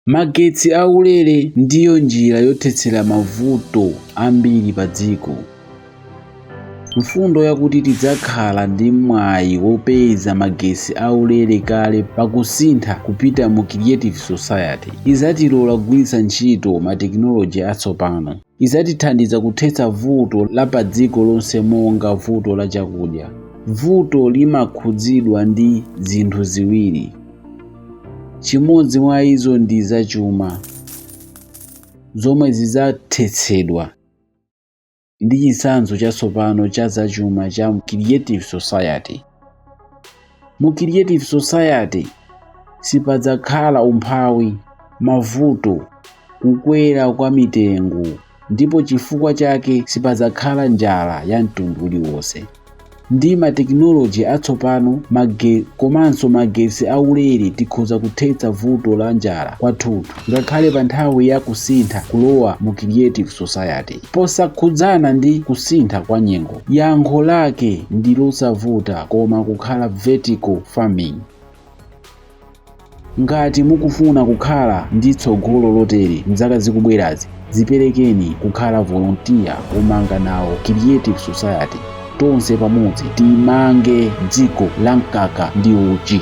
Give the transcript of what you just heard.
Magetsi aulere ndiyo njira yothetsera mavuto ambiri padziko. Mfundo yakuti tidzakhala ndi mwayi wopeza magetsi aulere kale pa kusintha kupita mu Creative Society idzatilola kugwiritsa ntchito matekinoloji atsopano. idzatithandiza kuthetsa vuto la padziko lonse monga vuto la chakudya. Vutoli limakhudzidwa ndi zinthu ziwiri. Chimodzi mwa izo ndi zachuma zomwe zidzathetsedwa ndi chitsanzo chatsopano cha zachuma cha Creative Society. mu creative society sipadzakhala umphawi mavuto kukwera kwa mitengo ndipo chifukwa chake sipadzakhala njala ya mtundu uliwonse ndi matekinoloji atsopano komanso magetsi aulere tikhoza kuthetsa vuto la njala kwathunthu ngakhale pa nthawi ya kusintha kulowa mu creative society posakhudzana ndi kusintha kwa nyengo yankho lake ndi losavuta koma kukhala vertical farming ngati mukufuna kukhala ndi tsogolo lotere m'zaka zikubwerazi Dziperekeni kukhala volontiya womanga nawo creative society. Tonse pamodzi timange dziko la mkaka ndi uchi.